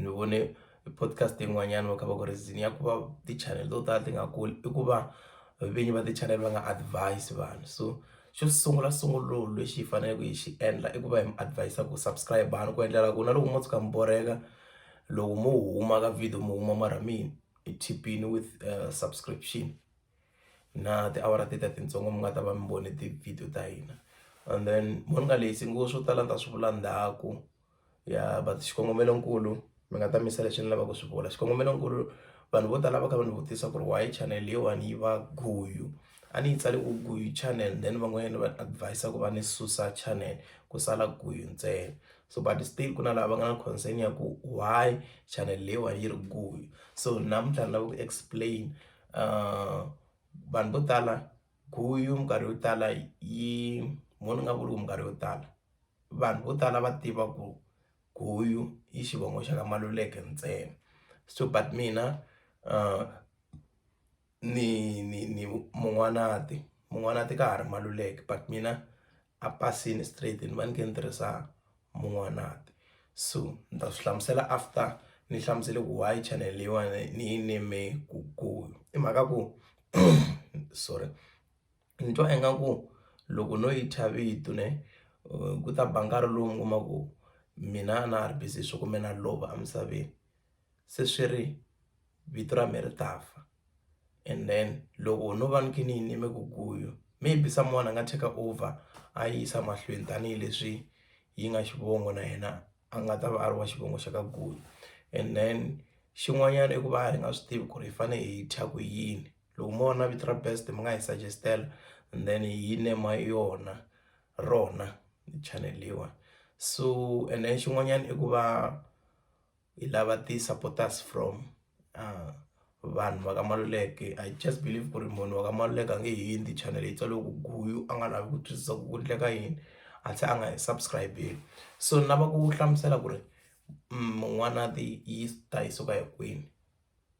ni vone podcast yin'wanyana va kha va ku ri reason ya ku va ti-channel to tala ti nga kuli i ku va vinyi va ti-channel va nga advise vanhu so xo sungula sungula lexi hi faneleke hi xi endla i ku va hi mi advis-a ku subscribe-ani ku endlela ku na loko mo tshuka mi borheka loko mo huma ka video mi huma mara mi hi khipile with subscription na tiawara teti a titsongo mi nga ta va mi vone ti-video ta hina and then mo ni nga leti ngo swo tala ni ta swi vula ndzhaku. ya but xikongomelonkulu mi nga ta mi yisa leswi ni lavaka ku swi vula xikongomelonkulu vanhu vo tala va kha va ni vutisa ku ri why channel leyiwani yi va guyu a ni yi tsale ku guyu channel then van'wanyana va advise ku va ni susa channel ku sala guyu ntsena so but still ku na lava nga na concern ya ku why channel leyiwani yi ri guyu so namuntlha ni lava ku explain vanhu vo tala. guyu minkarhi yo tala yi vona nga ku loko minkarhi yo tala vanhu vo tala va tiva ku guyu i xivongo xa ka Maluleke ntsena so but mina ni ni ni Mun'wanati, Mun'wanati ka ha ri Maluleke but mina. a pasini straight ni va ni kha ni tirhisa Mun'wanati so ni ta swi hlamusela after ni hlamusele ku why channel leyiwani ni yi name Gugu i mhaka ku sorry ni twa ingaku loko no yi thya vito ne ku ta ba nkarhi lowu mi kuma ku mina a na ha ri busy hi swa ku me na lova emisaveni. se swi ri vito ra me ri ta fa and then loko no va ni kha ni yime ku guyu maybe someone a nga take over a yi yisa mahlweni tanihileswi yi nga xivongo na yena a nga ta va a ri wa xivongo xa ka guyu and then xin'wanyana i ku va hi nga swi tivi ku ri hi fane hi thya ku yini loko mo vona vito ra best mi nga hi suggest-ela and then hi nema yona rona channel leyiwani so and then xin'wanyana i ku va. hi lava ti-supporters from vanhu va ka Maluleke I just believe ku ri munhu wa ka Maluleke a nge he endli channel yi tsale ku Guyu a nga lavi ku twisisa ku ku endleka yini a tlhe a nga hi subscribe-i so ni lava ku hlamusela ku ri N'wanati yi ta yi suka hi kwini.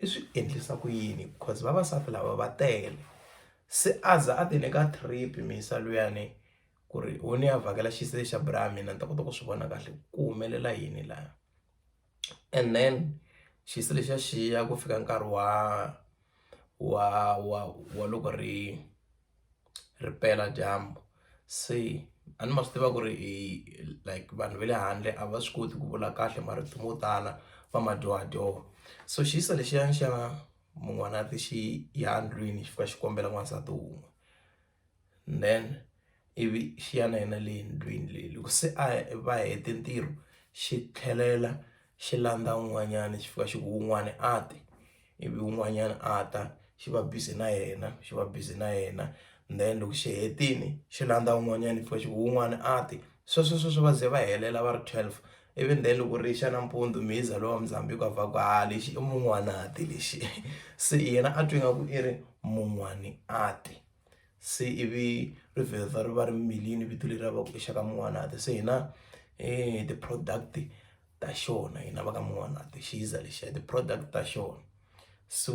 i swi endlisa ku yini because vavasati lava va tele se a za a ti nyika trip mhisa luyani ku ri u ni ya vhakela xisesi xa bra ya mina ni ta kota ku swi vona kahle ku humelela yini laya and then xisesi lexiya xiya ku fika nkarhi wa wa wa wa loko ri. ri pela dyambu se a ni ma swi tiva ku ri i like vanhu va le handle a va swi koti ku vula kahle marito mo tala va ma dyohadyoha so xiso lexiyani xa mun'wanati xi ya ndlwini xi fika xi kombela n'wansati wun'we then ivi xi ya na yena le ndlwini leyi loko se a va hete ntirho xi tlhelela xi landza un'wanyani xi fika xi ku wun'wani a ti. ivi un'wanyana a ta xi va busy na yena xi va busy na yena then loko xi hetile xi landza un'wanyana futhi un'wana a ti sweswo sweswo va ze va helela va ri twelve ivi then loko ri xa nampundzu mi za lowa Muzambique a ku ha lexi i mun'wana a ti lexi se yena a twi nga ku i ri mun'wani a ti se ivi ri vheta ri va ri mirile vito leriya va ku i xa ka mun'wana a ti se hina hi ti-product. ta xona hina va ka N'wanati xi za lexi ya ti-product ta xona so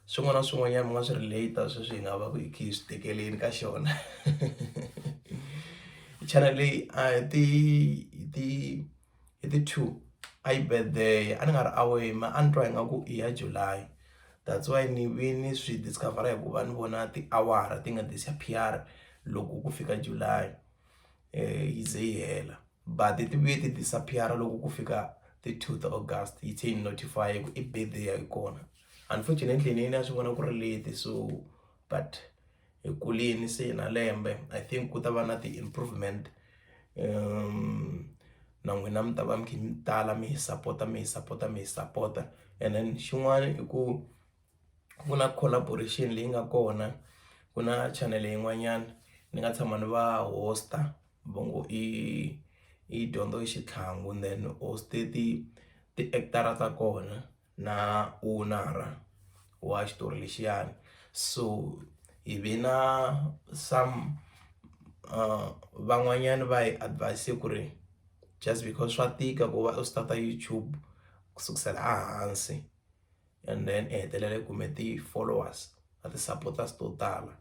swin'wana na swin'wanyana mi nga swi relate sweswi hi nga va ku hi kha hi swi tekeleni ka xona channel leyi a hi ti hi ti hi ti two a yi birthday a ni nga ri aware ma a ni twa ingaku i ya July that's why ni ve ni swi discover-a hikuva ni vona tiawara ti nga disappear loko ku fika July yi ze yi hela. but ti vuye ti disappear loko ku fika ti two ta August yi tlhe yi notify ku i birthday ya kona unfortunately ni yini a swi vona ku ri late so but hi kulini se na lembe I think ku ta va na ti improvement na n'wina mi ta va mi kha mi tala mi hi sapota mi hi sapota mi hi sapota and then xin'wana i ku. ku na collaboration leyi nga kona ku na chanele yin'wanyana ni nga tshama ni va host-a va ngo i i dyondzo i xitlhangu then host-e ti ti-act-ara ta kona na owner-a wa xitori lexiyani so hi ve na some van'wanyani va hi advise-e ku ri just because swa tika ku va u start-a YouTube ku sukusela a hansi. and then i hetelela i kume ti-followers na ti-supporters to tala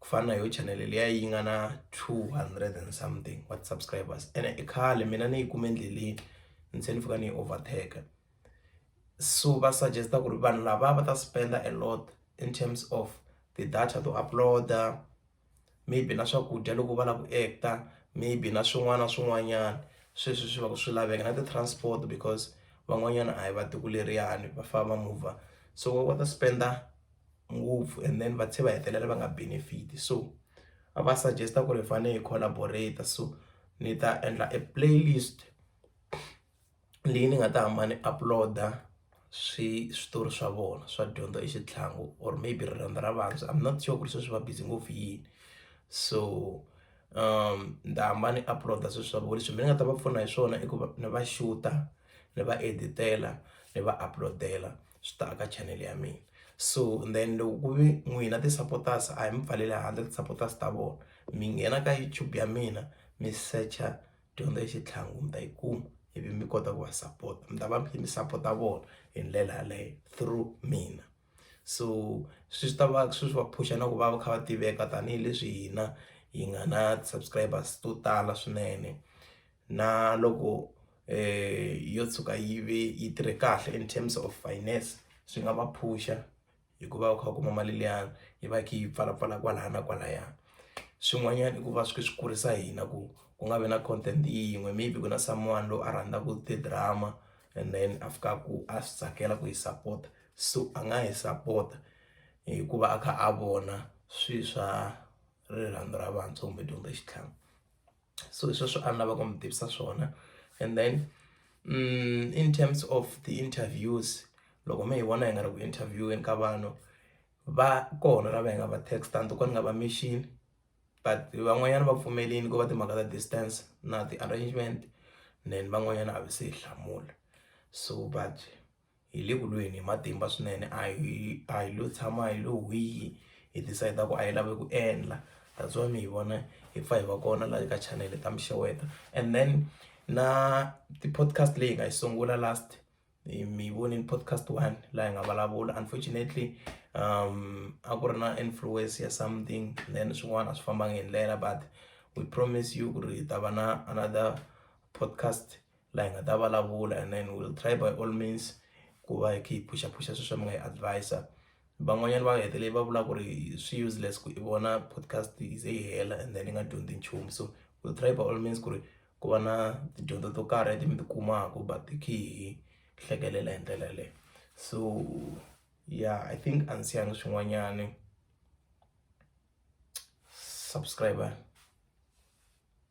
ku fana na yo channel liya yi nga na two hundred and something wa ti-subscribers ene i khale mina ni yi kume endleleni ni tlhela ni fika ni yi overtake so va suggest-a ku ri vanhu lava va ta spend-a a lot in terms of ti-data to upload-a maybe na swakudya loko va lava ku act-a maybe na swin'wana na swin'wanyana sweswi swi va swi laveka na ti-transport because van'wanyana a hi va tiko leriyani va famba va mover so va kota ku spend-a ngopfu and then va tlhela va hetelela va nga benefit-i so a va suggest-a ku ri hi fanele hi collaborate so ni ta endla e playlist. leyi ni nga ta hamba ni upload-a swi switori swa vona swa dyondzo i xitlhangu or maybe rirhandzu ra vantshwa I'm not sure ku ri sweswi va busy ngopfu hi yini so ni ta hamba ni upload-a swilo swa vona leswi mina ni nga ta va pfuna hi swona i ku va ni va xuta ni va edit-ela ni va upload-ela swi ta aka channel ya mina so then loko ku ve n'wina ti-supporters a hi mi pfaleli handle ti-supporters ta vona mi nghena ka YouTube ya mina mi secha. dyondzo ya xitlhangu mi ta yi kuma ivi mi kota ku va sapota mi ta va mi kha mi sapota vona hi ndlela yaleyo through mina so swi swi ta va swi swi va phusha na ku va va kha va tiveka tanihileswi hina hi nga na ti-subscribers to tala swinene na loko yo tshuka yi ve yi tirhe kahle in terms of finance swi nga va phusha. hikuva u kha u kuma mali liyani yi va yi kha yi pfalapfala kwalaya na kwalaya swin'wanyana i ku va swi swi kurisa hina ku ku nga vi na content yin'we maybe ku na someone loyi a rhandzaka ti-drama and then a fikaka ku a swi tsakela ku yi sapota so a nga yi sapota hikuva a kha a vona swilo swa rirhandzu ra vantshwa kumbe dyondzo ya xitlhangu. so hi sweswo a ni lava ku mi tivisa swona and then mm, in terms of the interviews loko mi hi vona hi nga ri ku interviewini ka vanhu va kona lava hi nga va text a ni to ka ni nga va mixini but van'wanyana va pfumelini ku va timhaka ta distance na ti-arrangement then van'wanyana a vi se hi hlamula so but hi le ku lweni hi matimba swinene a hi a hi lo tshama hi lo hwii hi decide ku a hi lavi ku endla that's why mi hi vona hi pfa hi va kona laha eka chanele ta mixeweta and then na ti-podcast leyi hi nga yi sungula last mi yi vonile podcast one laha hi nga vulavula unfortunately a ku ri na influence ya something then swin'wana a swi fambanga hi ndlela but we promise you ku ri hi ta va na another podcast laha hi nga ta vulavula and then will try by all means ku va hi kha hi phuxaphuxa swilo swa mi nga hi advis-a van'wanyana va hetelele va vula ku ri swi useless ku i vona podcast yi ze yi hela and then yi nga dyondzi nchumu so will try by all means ku ri ku va na tidyondzo to karhi leti mi ti kumaka but hi kha hi hlekelela hi ndlela yaleyo so yeah i think a ndzi siyangi swin'wanyani subscriber